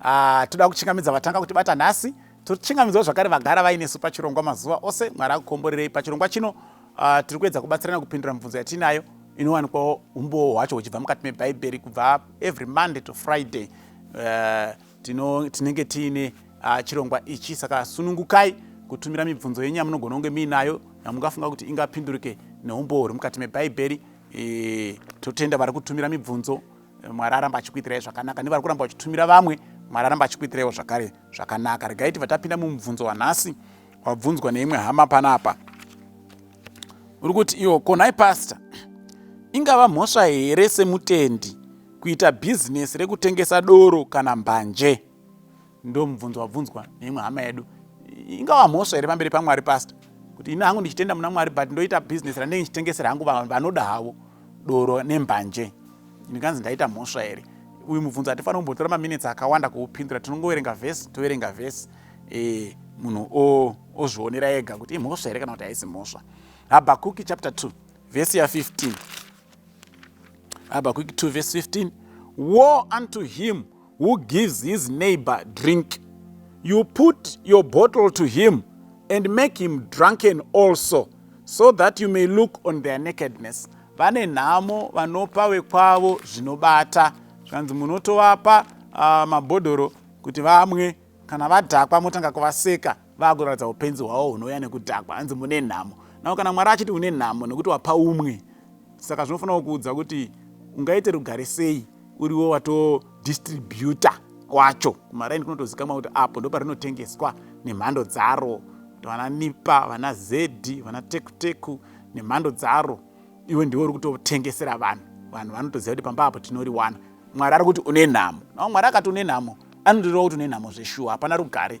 Ah, toda kuchingamidza vatanga kutibata nhasi tochingamidzwa zvakare vagara vainesu pachirongwa mazuva ose mwari akukomborerei pachirongwa chino ah, tiri kuedza kubatsirana kupindura mibvunzo yatiinayo inowanikwawo umbowo hwacho huchibva mukati mebhaibheri kubva every monday to friday eh, tinenge tiine ah, chirongwa ichi saka sunungukai kutumira mibvunzo yenyu yamunogona kunge miinayo yamungafunga kuti ingapindurike neumbowo huri mukati mebhaibheri eh, totenda vari kutumira mibvunzo mwari aramba achikuitirai zvakanaka nevari kuramba vachitumira vamwe mwari aramba achikuitiraiwo zvakare zvakanaka regai tiva tapinda mumubvunzo wanhasi wabvunzwa neimwe hama panapa uri kuti iwo konhai pasta ingava mhosva here semutendi kuita bhizinesi rekutengesa doro kana mbanje Ndomubvunzo wabvunzwa neimwe hama yedu ingava mhosva here pamberi pamwari pastor kuti ini hangu ndichitenda muna mwari but ndoita business randenge ndichitengesera hangu vanhu vanoda havo doro nembanje ndikanzi ndaita mhosva here uyu mubvunzo hatifanira kumbotora maminitsi akawanda kuupindura tinongoverenga vhesi toverenga vhesi e, munhu ozvionera ega kuti imhosva here kana kuti haisi mhosva habhakuki chapter 2 vhesi ya 15 Habakkuk 2 vese 15 Woe unto him who gives his neighbor drink you put your bottle to him and make him drunken also so that you may look on their nakedness vane nhamo vanopa wekwavo zvinobata zvikanzi munotovapa uh, mabhodhoro kuti vamwe kana vadhakwa motanga kuvaseka vakuratidza upenzi hwavo hunouya nekudhakwa hanzi mune nhamo nao kana mwari achiti une nhamo nekuti wapa umwe saka zvinofanira kukuudza kuti ungaite rugare sei uriwo watodistributa wacho kumaraini kunotozikamwa kuti apo ndo parinotengeswa nemhando dzaro vana nipa vana zedhi vana tekuteku nemhando dzaro iwe ndiwe uri kutotengesera vanhu vanhu vanotoziva kuti pamba apo tinoriwana mwari ari kuti une nhamo nao mwari akati une nhamo anotorewa kuti une nhamo zveshuwa hapana rugare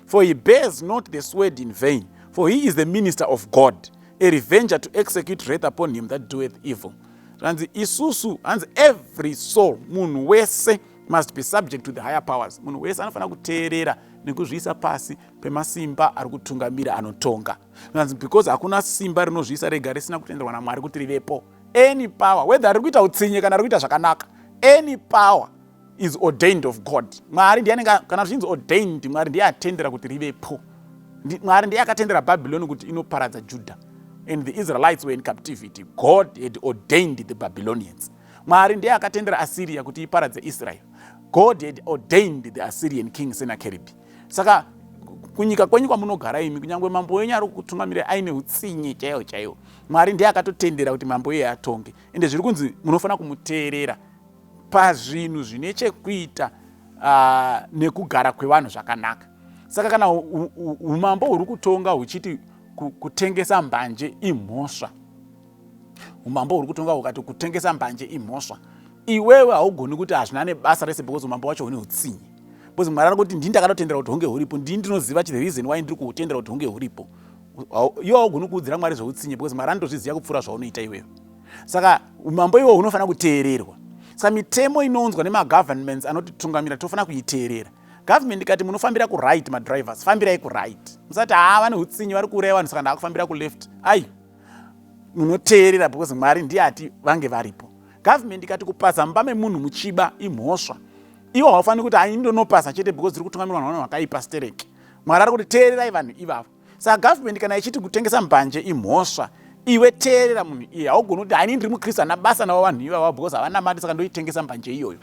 for he bears not the sword in vain for he is the minister of god a revenger to execute wrath upon him that doeth evil zvanzi isusu hanzi every soul munhu wese must be subject to the higher powers munhu wese anofanira kuteerera nekuzviisa pasi pemasimba ari kutungamira anotonga zvanzi because hakuna simba rinozviisa rega risina kutenderwa namwari kuti rivepo any power whether riri kuita utsinye kana riri kuita zvakanaka any power is ordained of god mwari ndiye anenge kana zvichinzi ordained mwari ndiye atendera kuti rivepo mwari ndiye akatendera babyloni kuti inoparadza juda and the israelites were in captivity god had ordained the babylonians mwari ndiye akatendera assyria kuti iparadze israel god had ordained the assyrian king senakeribi saka kunyika kwenyu kwamunogara imi kunyange mambo wenyu ari kutungamira aine utsinye chaiwo chaiwo mwari ndiye akatotendera kuti mambo iye atonge ende zviri kunzi munofanira kumuteerera pazvinhu zvine chekuita uh, nekugara kwevanhu zvakanaka saka kana umambo huri kutonga huchiti kutengesa mbanje imhosva umambo huri kutonga hukati kutengesa mbanje imhosva iwewe haugoni kuti hazvina nebasa rese because umambo wacho hune utsinye because mwari ari kuti ndini ndakatotendera kuti hunge huripo ndini ndinoziva the reason why ndiri kuhutendera kuti hunge huripo iwe haugoni kuudzira mwari zveutsinye because mwari anotozviziva kupfuura zvaunoita iwewe saka umambo iwo hunofanira kuteererwa saka mitemo inounzwa nemagovernments anotitungamira tofanira kuiteerera government ikati munofambira kuright madrivers fambirai kuright musati haa ah, vane utsinyi vari kuuraya vanhu saka ndaakufambira kuleft ayi munoteerera because mwari ndiye ati vange varipo government ikati kupasa mumba memunhu muchiba imhosva iwo haufaniri kuti ainyi ndonopasa chete because tiri kutungamirwa navanhu vakaipa stereki mwari ari kuti teererai vanhu ivavo saka government kana ichiti kutengesa mbanje imhosva iwe teerera munhu iye haugoni kuti haini ndiri mukristu hana basa navo vanhu ivavo because havana mari saka ndoitengesa mbanje iyoyo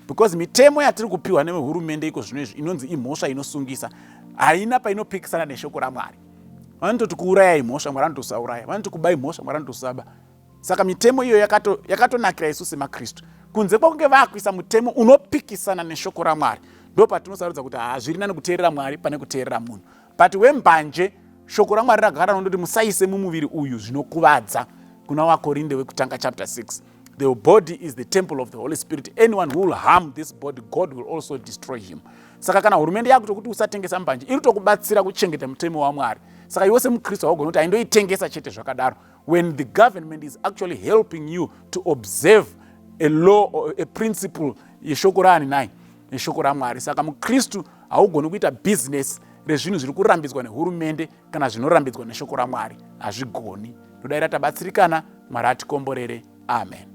because mitemo yatiri kupiwa nevehurumende iko zvino izvi inonzi imhosva inosungisa haina painopikisana neshoko ramwari vanototi kuuraya imhosva mwari anoti usauraya vanoti kuba imhosva mwari anoti usaba saka mitemo iyo yakatonakira isu semakristu kunze kwakunge vakuisa mutemo unopikisana neshoko ramwari ndo patinosarudza kuti hazviri nani kuteerera mwari pane kuteerera munhu but wembanje shoko ramwari ragara nondoti musaise mumuviri uyu zvinokuvadza kuna wakorinde wekutanga chapter 6 the body is the temple of the holy spirit anyone who will harm this body god will also destroy him saka kana hurumende yakuto kuti usatengesa mbanje iri tokubatsira kuchengeta mutemo wamwari saka iwe semukristu haugonoti aindoitengesa chete zvakadaro when the government is actually helping you to observe a law or a principle yeshoko raani nai neshoko ramwari saka mukristu haugoni kuita bhizinesi rezvinhu zviri kurambidzwa nehurumende kana zvinorambidzwa neshoko ramwari hazvigoni ndodaira tabatsirikana mwari atikomborere amen